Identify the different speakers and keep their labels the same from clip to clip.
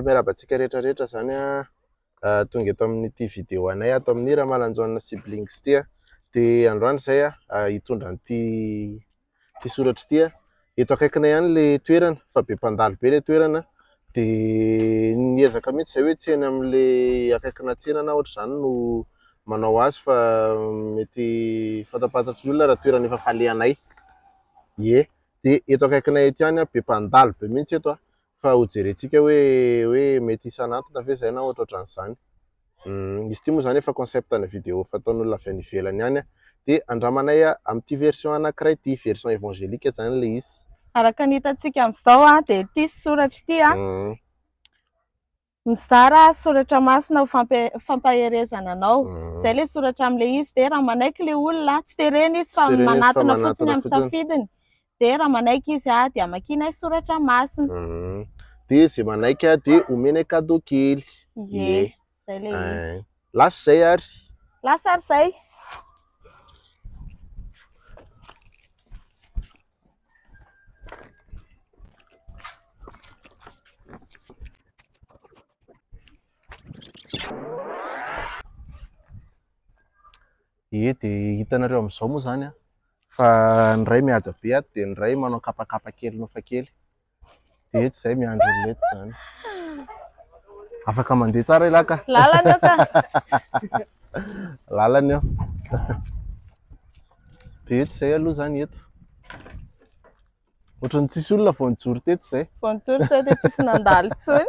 Speaker 1: Miarahaba antsika rehetra rehetra izany tonga eto amin'ity vidéo anay ato amin'ny Ramalanjaona siblings ity dia androany izay hitondra an'ity ity soratra ity eto akaikinay ihany ilay toerana fa be mpandalo be ilay toerana dia niezaka mihitsy izay hoe tsy eny amin'ilay akaikina tsena na ohatr'izany no manao azy fa mety fantapantatry ny olona raha toerana efa falehanay ie dia eto akaikinay ety ihany be mpandalo be mihitsy eto Fa ho jerentsika hoe hoe mety hisan'antona ve izay na ohatrohatran'izany. Hum, izy ity moa izany efa concept ana vidéo fataon'olona avy any ivelany any a. Dia andramanay amin'ity version anankiray ity, version evangelique izany ilay izy. Araka ny hitantsika
Speaker 2: amin'izao a, dia ity soratra ity a. Hum. Mizara soratra masina ho fampaherezana anao. Izay ilay soratra amin'ilay izy. Dia raha manaiky ilay olona, tsy terena izy fa manatona fotsiny amin'ny safidiny. Dia raha manaiky izy dia amakianay soratra masina. Dia
Speaker 1: izay manaiky dia omenay cadeau kely. Ie, izay ilay
Speaker 2: izy. Lasa izay ary.
Speaker 1: Lasa ary izay. Ye dia hitanareo amin'izao moa izany an, fa ny iray mihaja be ato dia ny iray manao kapakapa kely nofa kely. Dia eto izay miandry olona eto izany. Afaka mandeha tsara ialahy ka. Lalana eo
Speaker 2: ka. Lalana
Speaker 1: eo. Dia eto izay aloha izany eto. Ohatran'ny tsisy olona vao nijoro teto izay. Vao nijoro teto dia tsisy
Speaker 2: nandalo intsony.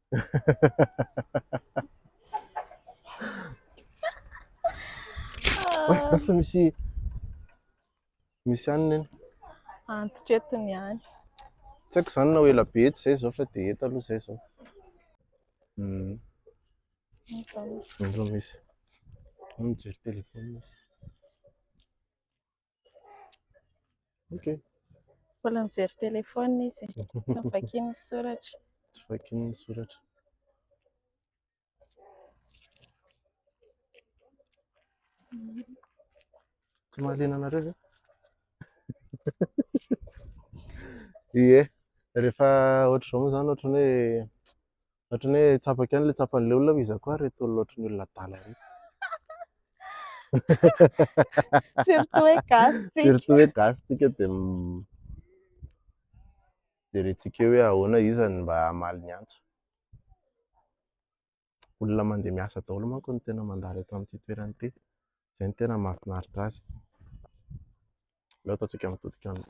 Speaker 1: Oe, lasa misy misy any neny. Antitra eto
Speaker 2: ny any. Tsy haiko
Speaker 1: izany na ho ela be eto izay izao fa dia eto aloha izay izao. Mm. Nizao misy. Mijery telefaonina izy. Okay.
Speaker 2: Mbola mijery téléphone izy. Tsy vakian'ny soratra. Tsy vakian'ny
Speaker 1: soratra. Tsy mahaliana anareo ve? Ie, rehefa ohatr'izao moa zany ohatrany hoe Ohatran'ny hoe tsapako ihany ilay tsapan'ilay olona hoe iza koa ary ireto olona ohatran'ny olona adala ireto.
Speaker 2: Surtout hoe gasy tsika. Surtout hoe gasy
Speaker 1: tsika dia m- jerentsika eo hoe ahoana iza no mba hamaly ny antso. Olona mandeha miasa daholo manko no tena mandalo eto amin'ity toerana ity. Izay no tena mahafinaritra azy. Aleo ataontsika mitodika any.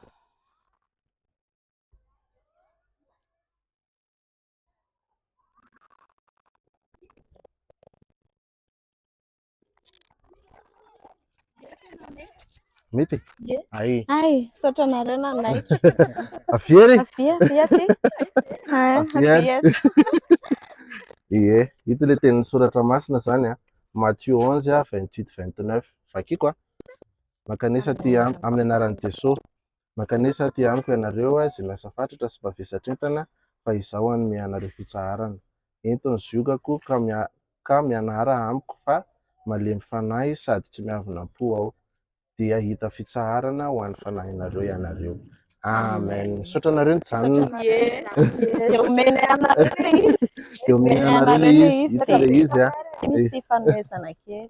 Speaker 1: Mety? Ye. Ay. Ay, saotra
Speaker 2: anareo nanaiky. Avy ery.
Speaker 1: Avy avy
Speaker 2: aty. Ah, Avy avy ary. aty.
Speaker 1: Ie, ito le tenin'ny soratra masina zany a. Matthieu 11 a, 28 29. Vakiko a. Mankanesa aty am- amin'ny anaran'i Jesosy. Mankanesa aty amiko ianareo izay lasa fatratra sy mavesatr-entana fa izaho hanome anareo fitsaharana. Ento ny ziogako ka mianara amiko fa malemy fanahy sady tsy miavona am-po aho. Dia hahita fitsaharana ho an'ny fanahinareo ianareo. Amen. Misaotra anareo nijanona. Dia
Speaker 2: omena anareo ilay izy. Dia omena anareo
Speaker 1: ilay izy. Hita ilay izy. Misy
Speaker 2: fanomezana kely.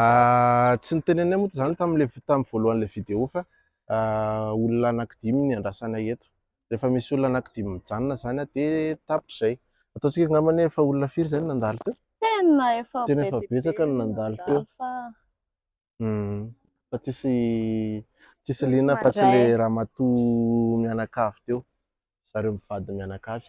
Speaker 1: Ah, tsy nitenenay moa izany tamin'ilay vi- tamin'ny voalohan'ilay vidéo fa ah, olona anankidimy ny andrasanay eto. Rehefa misy olona anankidimy mijanona izany ah, dia tapitra izay. Ataontsika angambany hoe efa olona firy izay no nandalo teo? Tena efa Tena
Speaker 2: be efa dia be betsaka no ny nandalo
Speaker 1: teo. nandalo fa Hmm. Fa tsisy tsisy Tsisy liana fa tsy mandray. ilay ramatoa mianakavy teo. Zareo mivady mianakavy.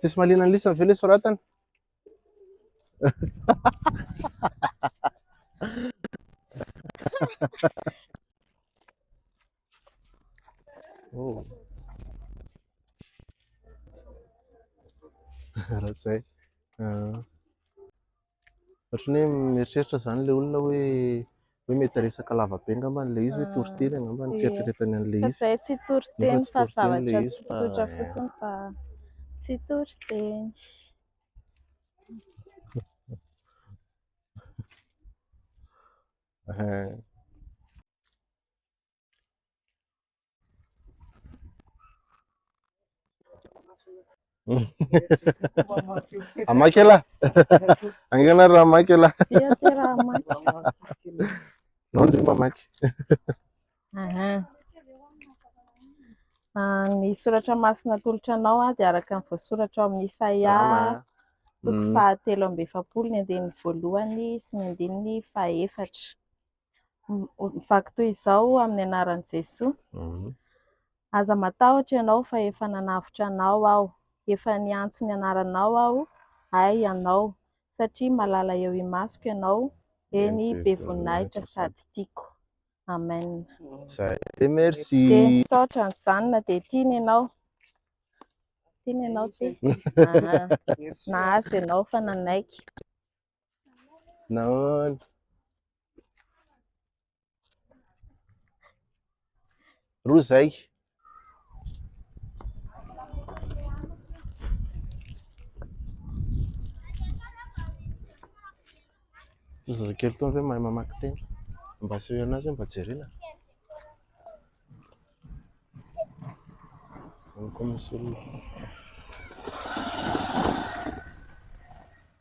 Speaker 1: Tsisy malina ny lisany ve le soratany? oh. Raha izay. Uh. Ohatran'ny hoe mieritreritra izany ilay olona hoe hoe mety resaka lava be angamba ilay izy, hoe ah. toriteny angamba ny fieritreretany an'ilay izy. Fa tsy toriteny
Speaker 2: fa zavatra tsotra fotsiny fa tsy toriteny. Eh.
Speaker 1: Hamaky elah. Angana raha hamaky elah. Dia
Speaker 2: dia raha hamaky. Nao
Speaker 1: ndry mamaky.
Speaker 2: Ah, ny soratra masina atolotra anao ah, dia araka ny voasoratra ao amin'ny Isaia toko mm. fahatelo amby efapolo ny andininy voalohany sy ny andininy fahaefatra. Mivaky toy izao amin'ny anaran'i Jesoa, Aza matahotra ianao fa efa nanavotra anao aho, efa niantso ny anaranao aho, hay ianao, satria malala eo imasoko ianao, eny be voninahitra sady tiako. Amen. Dia
Speaker 1: misaotra
Speaker 2: nijanona dia tiana ianao. Tiana ianao ty. Nahazo ianao fa nanaiky.
Speaker 1: Nahoana? Roa izay. Zazakely toa ve mahay mamaky teny? Mba aseho ianao izay mba jerena. Amiko misy olona.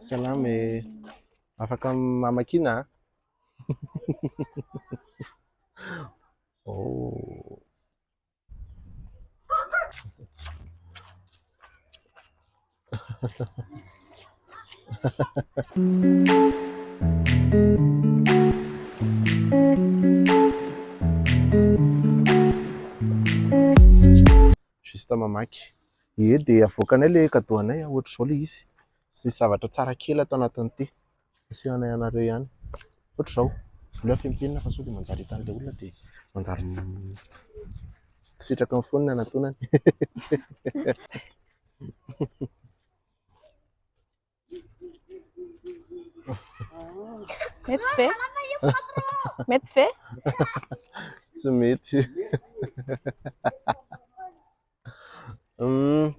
Speaker 1: Salama e. Afaka mamakiana a? Oh. juste mamaky. Ye dia avoakanay ilay cadeau anay an, ohatr'izao ilay izy, misy zavatra tsara kely ato anatiny ity, asehonay anareo ihany, ohatr'izao, aleo afehy amin'ny penina fa sao dia manjary hitan'ilay olona dia manjary misitraka ny fony ny hanatonany.
Speaker 2: Mety ve? Mety ve?
Speaker 1: Tsy mety. Hum.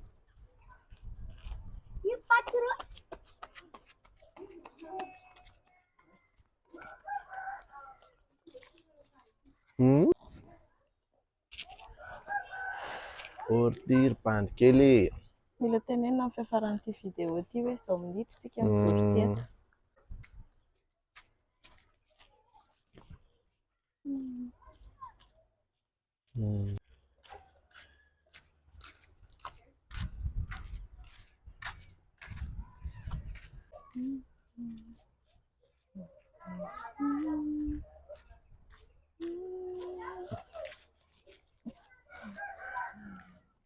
Speaker 1: Hum. Ortir bandy kely e. Mila tenenina
Speaker 2: amin'ny fiafaran'ity vidéo ity hoe izao minitra isika mijoro ity an. Hmm. Hmm.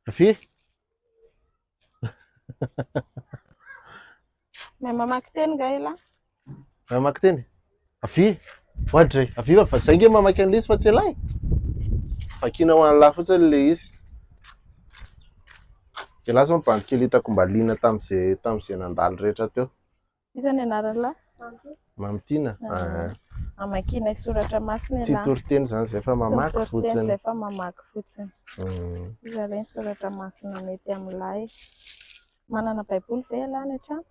Speaker 1: Rafi?
Speaker 2: Mahay mamaky teny nga ela? Mahay mamaky
Speaker 1: teny? Rafi? Oadray, Rafi fa zay nge mamaky an'ilay izy fa tsy ela e. Vakina ho an'lah fotsiny ilay izy. Ela zao ny bandy kely hitako mba liana tamin'izay tamin'izay nandalo rehetra teo. Iza ny anarany
Speaker 2: lahy? Mamitiana.
Speaker 1: Ah.
Speaker 2: Amakianay soratra masina Tsy ialahy. toriteny zany zay
Speaker 1: fa Tsy mamaky mitory teny fotsiny. izay fa mamaky
Speaker 2: fotsiny. Mm. Iza re ny soratra masina mety amin'ny lahy? Manana baiboly ve ialahy any an-trano?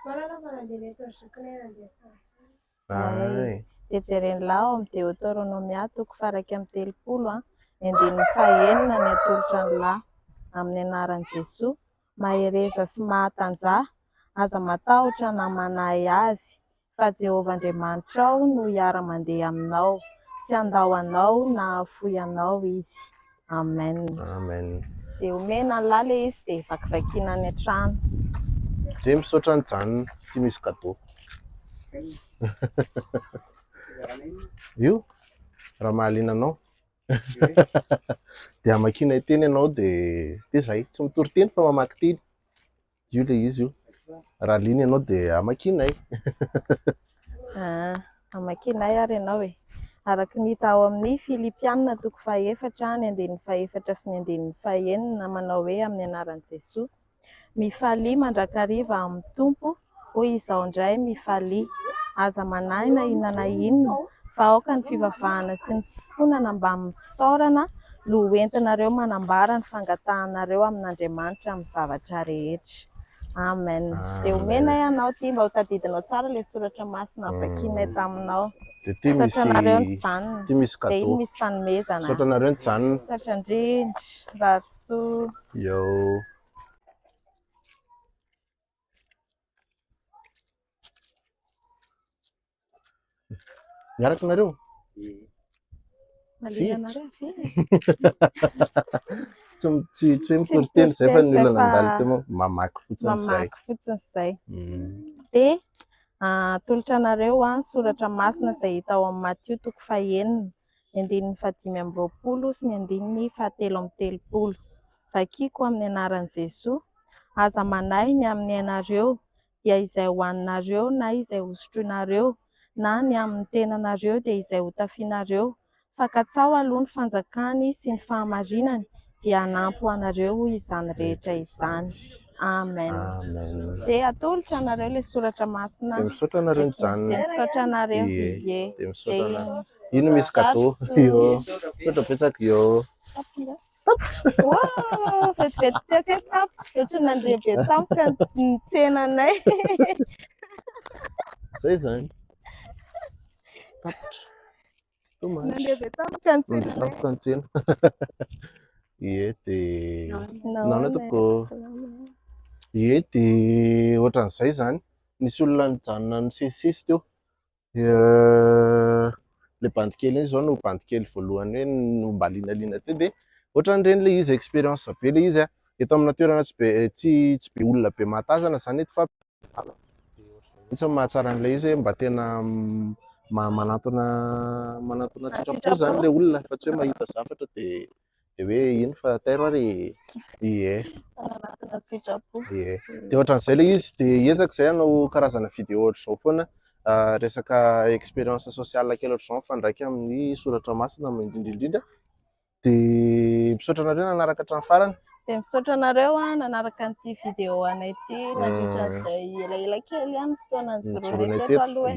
Speaker 2: Manana
Speaker 3: fa nandeha nety ny zokiny ary nandeha tsara tsara. Ay.
Speaker 2: Dia jeren'ny lahy ao amin'ny Deoteronomia toko faha iraika amby telopolo, ny andininy faha enina ny atolotra ny lahy. Amin'ny anaran'i Jesoa, mahereza sy mahatanjaha, aza matahotra na manahy azy, fa Jehovah Andriamanitrao no hiara-mandeha aminao, tsy handao anao na hahafoy anao Izy. Amen. Amen.
Speaker 1: Dia omena
Speaker 2: an'lah le izy dia vakivakiana any an-trano. Dia
Speaker 1: misaotra an'i Jane, ity misy cadeau. Io, raha mahaliana anao. Dia amakianay teny ianao dia dia izay, tsy mitory teny fa mamaky teny. Io ilay izy io. Raha liana ianao dia amakianay. Ah,
Speaker 2: amakianay ary ianao e. Araka ny hita ao amin'ny Filipiana toko fahaefatra ny andininy fahefatra sy ny andininy fahenina manao hoe amin'ny anaran'i Jesoa. Mifalia mandrakariva amin'ny Tompo hoy izaho indray mifalia. Aza manahy na inona na inona fa aoka ny fivavahana sy ny fifonana mbamin'ny fisaorana no ho entinareo manambara ny fangatahanareo amin'Andriamanitra amin'ny zavatra rehetra. Amen. Dia homenay anao ity mba hotadidinao tsara ilay soratra masina vakinay taminao. Misaotra anareo nijanona. Dia iny misy fanomezana. Misaotra anareo nijanona.
Speaker 1: Misaotra indrindra.
Speaker 2: Mirary soa. Yo.
Speaker 1: Miaraka nareo? Tsy tsy hoe mitory teny izay fa ny olona nandalo teo moa mamaky fotsiny izay. Mamaky fotsiny izay.
Speaker 2: Mm. Dia atolotra anareo an soratra masina izay hita ao amin'ny Matio toko fahenina. ny andininy fahadimy amby roapolo sy ny andininy fahatelo amby telopolo. Vakiko amin'ny anaran'i Jesoa, Aza manahy ny amin'ny ainareo, dia izay hohaninareo na izay hosotroinareo, na ny amin'ny tenanareo dia izay hotafianareo, fa katsaho aloha ny fanjakany sy ny fahamarinany, dia hanampy ho anareo izany rehetra izany. Amen. Amen. Dia atolotra anareo ilay soratra masina. Dia misaotra anareo nijanona.
Speaker 1: Dia misaotra anareo.
Speaker 2: Ie. Ie. Dia misaotra
Speaker 1: anareo. Ino misy kadô? Io. Misaotra betsaka io. Wow,
Speaker 2: vetivety teo ke tapitra, dia tsy nandeha be tampoka ny tsenanay.
Speaker 1: Zay zany. Tapitra. Dommage. Nandeha
Speaker 2: avy tampoka ny tsena. Nandeha tampoka ny tsena.
Speaker 1: Ie dia naona toko. Ie dia ohatran'izay izany. Nisy olona nijanona nisesisesy teo. Le bandy kely iny izao no bandy kely voalohany hoe nombalinaliana teo dia ohatran'ireny le izy expérience be le izy a. eto amina toerana tsy be tsy tsy be olona be mahatazana zany eto fa mihitsy ny mahatsara an'ilay izy mba tena manantona manantona sitrapo zany ilay olona fa tsy hoe mahita zavatra de de hoe ino fa tairo ary ie manantona
Speaker 2: sitrapo ie de ohatran'izay
Speaker 1: ilay izy de ezaka izay hanao karazana vidéo ohatr'izao foana ah, resaka expérience sociale kely ohatr'izao mifandraika amin'ny soratra masina indrindra indrindra Dia misaotra anareo nanaraka hatramin'ny farany. Dia misaotra anareo
Speaker 2: nanaraka an'ity vidéo anay ity nandritra hmm. izay elaela kely ihany ny fotoana nijoroanay teto aloha.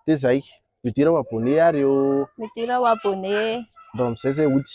Speaker 2: Dia
Speaker 1: izay, midira ho abonné ary eo. Midira ho abonné. Ndao amin'izay izay hody.